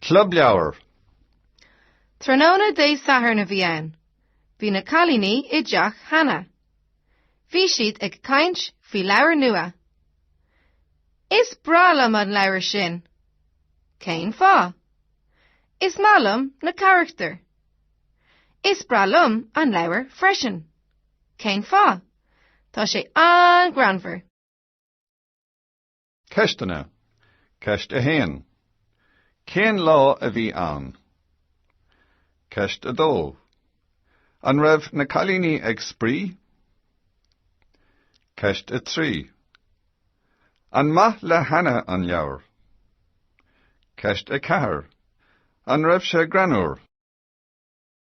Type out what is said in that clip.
Club Leabhar. Tráthnóna Dé Sathairn a bhí ann. Bhí na cailíní i dteach Hannah. Bhí siad ag caint faoi leabhar nua. Is breá liom an leabhar sin. Cén fáth? Is maith liom na carachtair. Is breá liom an leabhar freisin. Cén fáth? Tá sé an-greannmhar. Ceisteanna, Ceist 1. Cén lá a bhí ann? Ceist 2. An raibh na cailíní ag spraoi? Ceist 3. An maith le Hannah an leabhar? Ceist 4. An raibh sé greannmhar?